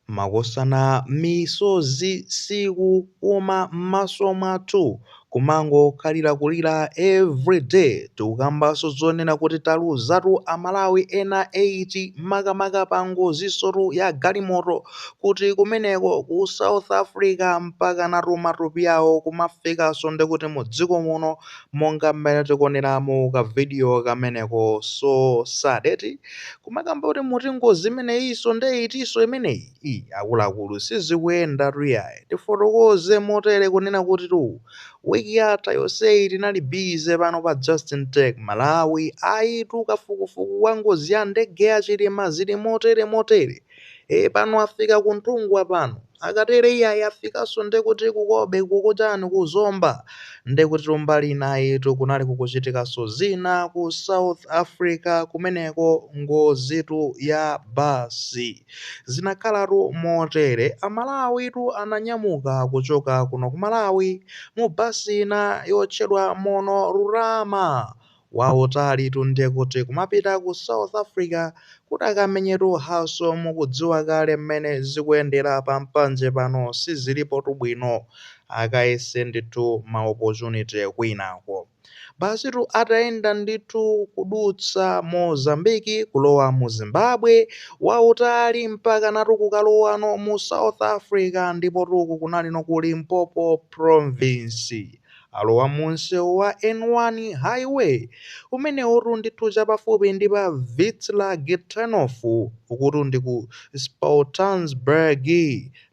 Makosana misozi sikuuma mmaso mwathu kumangokhalira kulira every day tikukambaso zonena kuti taluzatu a Malawi ena 8 makamaka pa ngozisotu ya galimoto kuti kumeneko ku South Africa mpakana tu matupi awo kumafikaso ndekuti mu dziko muno monga mmene tikuoneramo ka video kameneko so sad eti kumakamba kuti muti ngozi imeneyinso nde itinso imeneyi i akuluakulu sizikuyenda tu iyayi tifotokoze motere kunena kuti tu wiki yatha yonseyi tinali bize pano pa justin tech malawi ayitu kafukufuku wa ngozi ya ndege ya Chilima zili motere motere e pano afika ku Nthungwa pano akatere iyayi afikaso ndekuti kukobe kukuchani ku zomba ndekuti tumbali inayitu kunali kukuchitikaso zina ku south africa kumeneko ngozitu ya basi zinakhalatu motere amalawitu ananyamuka kuchoka kuno ku malawi mu basi ina yotchedwa Munorurama wautalitu ndekuti kumapita ku south Africa kuti akamenyetu haso mukudziwa kale mmene zikuyendera pa mpanje pano sizilipotu bwino akayese ndithu ma opportunity kwinako basitu atayenda ndithu kudutsa Mozambique kulowa mu Zimbabwe wautali mpakanatu kukalowano mu south Africa ndipotu uku kunalino ku Limpopo province alowa mu msewu wa N1 highway umenewutu ndithu chapafupi ndi pa Witvlag turnoff ukutu ndi ku Soutpansberg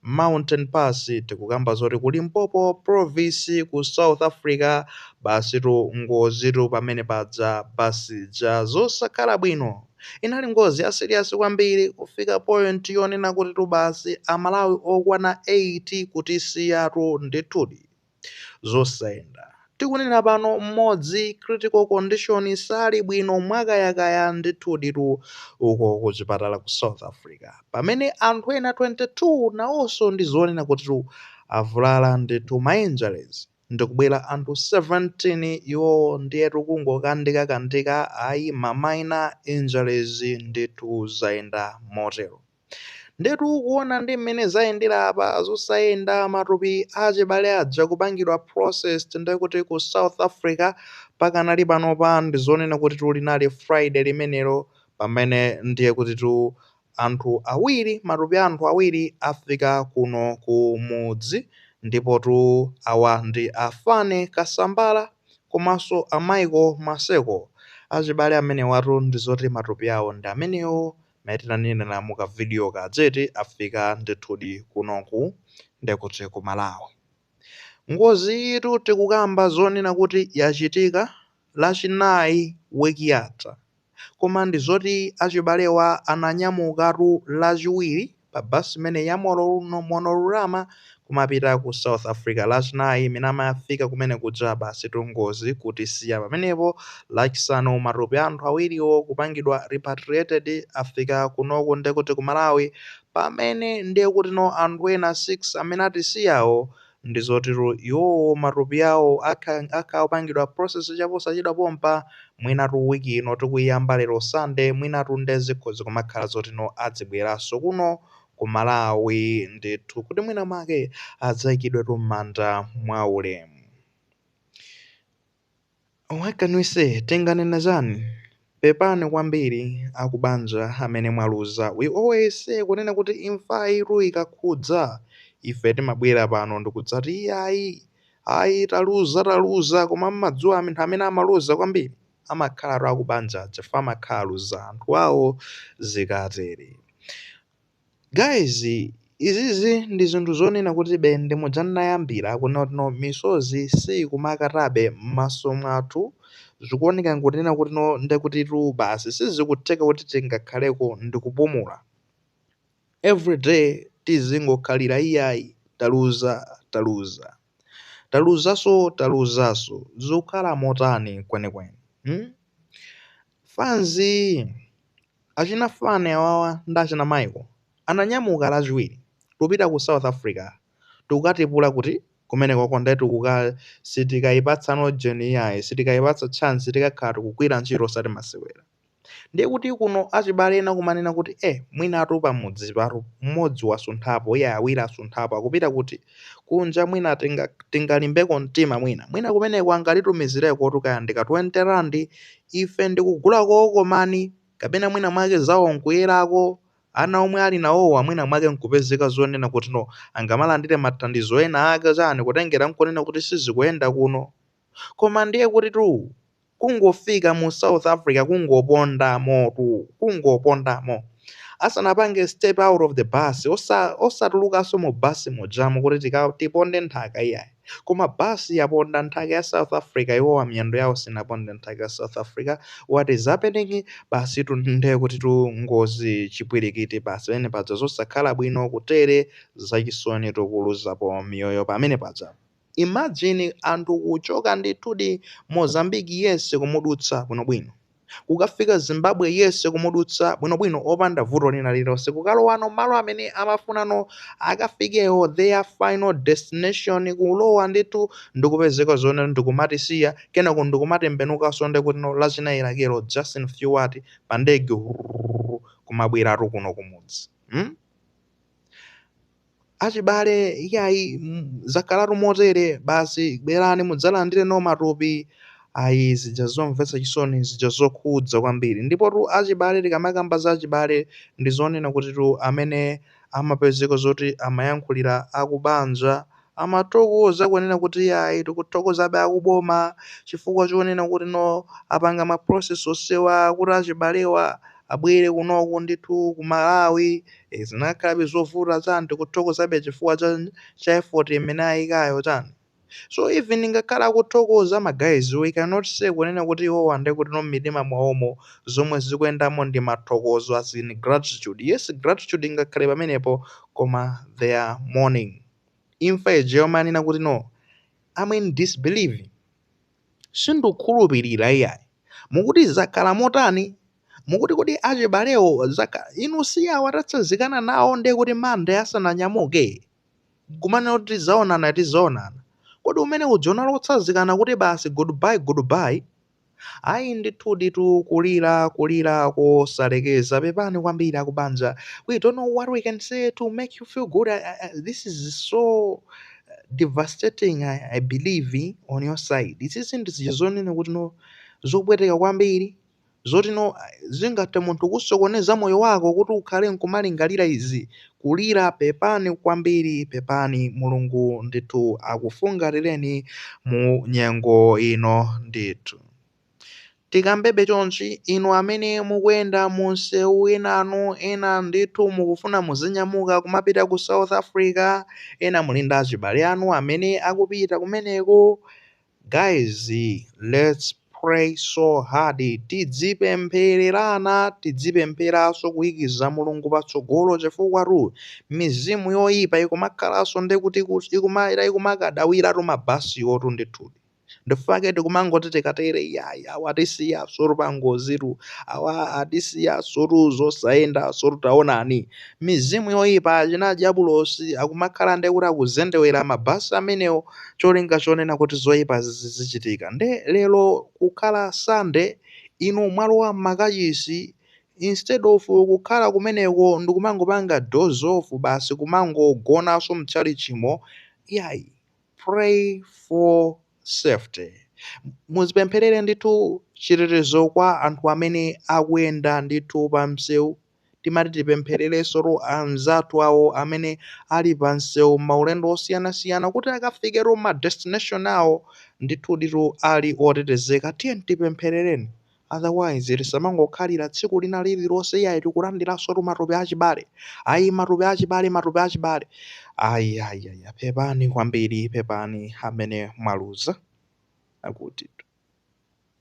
mountain pass tikukamba zoti ku Limpopo province ku South Africa basitu ngozitu pamene paja bus ija zosakhala bwino inali ngozi ya serious kwambiri kufika point yonena kutitu basi amalawi okwana 8 kutisiyatu ndithudi. zosayenda. Tikunena pano mmodzi critical condition sali bwino mwakayakaya ndithuditu uko ku chipatala ku South Africa. Pamene anthu ena 22 nawonso ndi zonena kutitu avulala ndithu ma injuries ndikubwera anthu 17 iwowo ndiyetu kungokandika kandika ayi ma minor injuries ndithu zayenda motero. Ndetu kuona ndi mmene zayendera apa zosayenda matupi achibale aja kupangidwa processed ndekuti ku South Africa pakanali panopa ndizonena kutitu linali Friday limenero pamene ndiye kutitu anthu awiri matupi a anthu awiri afika kuno ku mudzi ndipotu awa ndi a Fane Kasambala komanso a Michael Maseko achibale amenewatu ndizoti matupi awo ndi amenewo mmene tanenera mu ka video ka dzeti afika ndithudi kunoku ndekuti ku Malawi ngozi yitu tikukamba zonena kuti yachitika lachinayi week yatha koma ndi zoti achibalewa ananyamukatu lachiwiri pa bus imene ya Monorama kumapita ku South Africa lachinayi mmene amakafika kumene kuja basitu ngozi kutisiya pamenepo lachisanu matupi a anthu awiriwo kupangidwa repatriated afika kunoku ndekuti ku Malawi pamene ndekutino anthu ena 6 amene atisiyawo ndi zoti iwowo matupi awo atha kupangidwa process chaposachedwa pompa mwinatu week ino tikuyiyamba lero Sunday mwinatu nde zikhoza kumakhala zoti no adzabweraso kuno ku Malawi ndithu kuti mwina mwake adzaikidwetu mmanda mwaulemu What can we say? Tinganene chani? Pepani kwambiri akubanja amene mwaluza. We always say kunena kuti imfayitu ikakhudza ife timabwera pano ndikudzati iyayi ayi taluza taluza koma mmadziwa anthu amene amaluza kwambiri amakhalatu akubanja aja chifukwa amakhala aluza anthu awo zikatere. Guys izizi ndi zinthu zonena kuti be nde muja ndinayambira kunena kuti no misozi siikumakatabe m'maso mwathu, zikuoneka ngati kunena kuti no ndekutitu basi sizikutheka kuti tingakhaleko ndikupumula, everyday tizingokhalira iyayi taluza taluza taluzaso taluzaso zikukhala motani kwenikweni mm? Fans. Achina Fanny awawa ndi achina Michael ananyamuka lachiwiri kupita ku South Africa tikatipula kuti kumenekoko nde tikuka sitikayipatsa no Joni iyayi sitikayipatsa chance tikakhala tikugwira ntchito osati masewera ndiye kuti kuno achibale ena kumanena kuti eh mwinatu pamudzipatu mmodzi wasunthapo iyayi awiri asunthapo akupita kuti kunja mwina tingalimbeko mtima mwina mwina kumeneko angatitumizirekotu kaya ndika 20 randi ife ndikugulako kookomani kapena mwina mwake zawo nkuyerako ana omwe ali nawowa mwina mwake nkupezeka zonena kuti no angamalandire mathandizo ena ake chani kutengera nkonena kuti sizikuyenda kuno Koma ndiye kutitu kungofika mu South Africa kungopondamotu, kungopondamo. Asanapange step out of the bus, osa, osatulukanso mu bus mujamo kuti tika, tiponde nthaka iyayi. Koma bus yaponda nthaka ya South Africa iwowa miyendo yawo sinaponde nthaka ya South Africa, what is happening? Basitu ndiye kutitu ngozi, chipwirikiti basi pamene paja, zosakhala bwino kutere, zachisoni tikuluzapo miyoyo pamene pajatu. Imagine anthu kuchoka ndithudi Mozambique yense kumudutsa bwinobwino. Kukafika Zimbabwe yense kumudutsa bwinobwino opanda vuto lina lililonse kukalowano malo amene amafunano akafikewo their final destination kulowa ndithu ndikupezeka zoona nkumatisiya kenako ndikumatembenukanso nde kuti no Lachinayi lakelo just in few what pandege wrrrr kumabweratu kuno kumudzi mm? Achibale, iyayi, mm, zakhalatu motere basi, bwerani mudzalandire nawo matupi. Ayi, zija zomvetsa chisoni, zija zokhudza kwambiri. Ndipotu achibale, tikamakamba za achibale, ndi zonena kutitu amene amapezeka zoti amayankhulira akubanja amathokoza kunena kuti iyayi tikuthokozabe akuboma chifukwa chonena kuti no apanga ma process onsewa kuti achibalewa abwere kunoko ndithu ku Malawi eh, zinakhalabe zovuta chani tikuthokozabe chifukwa cha, cha effort imene ayikayo chani so even ngakhale akuthokoza ma guys we cannot say kunena kuti iwowa nde kuti no m'mitima mwawomo zomwe zikuyendamo ndi mathokozo as in gratitude yes gratitude ingakhale pamenepo koma they are mourning imfa ija yomanena kuti no am in disbelief sindikukhulupirira iyayi mukuti zakhala motani mukuti kodi achibalewo zaka inu si awa tatsazikana nawo ndiye kuti Monday asananyamuke kumanena kuti tizaonana tizaonana kodi umene uja unali otsazikana kuti basi goodbye goodbye Ayi ndithuditu kulira kulira kosalekeza pepani kwambiri akubanja we don't know what we can say to make you feel good I, I, I, this is so devastating I, I believe on your side izi ndi zija zonena kuti no zopweteka kwambiri zoti no zingathe munthu kusokoneza moyo wako kuti ukhale nkumalingalira izi kulira pepani kwambiri pepani mulungu ndithu akufungatireni mu nyengo ino ndithu tikambebe chonchi inu amene mukuyenda mu nsewu enanu ena ndithu mukufuna muzinyamuka kumapita ku south africa ena muli ndi achibale anu amene akupita kumeneko Guys lets pray so hard tidzipemphererana tidzipempheraso kuyikiza mulungu patsogolo chifukwatu mizimu yoipa ikumakhalaso ndekuti ikumaira ikumakadawiratu mabasiwotu ndithudi ndi chifukwa chake tikumangoti tikatere iyayi awa atisiyasotu pangozitu awa atisiyasotu zosayendasotu taonani mizimu yoipa achina adyabulosi akumakhala ndi kuti akuzendewera ma bus amenewo cholinga chonena kuti zoipa zichitika nde lero kukhala Sunday inu mwalowa mmakachisi instead of kukhala kumeneko ndikumangopanga doze off basi kumangogonanso mtchalitchimo iyayi pray for safety muzipempherere ndithu chitetezo kwa anthu amene akuyenda ndithu pamseu timati tipemphererensotu anzathu awo amene ali pa msewu maulendo osiyanasiyana kuti akafike tu ma destination awo ndithu ditu ali otetezeka tiyeni tipempherereni otherwise tisamangokhalira tsiku lina lililonse iyayi tikulandiransotu matupi achibale ayi matupi achibale matupi achibale ayi ayi ayi pepani kwambiri pepani amene mwaluza akuti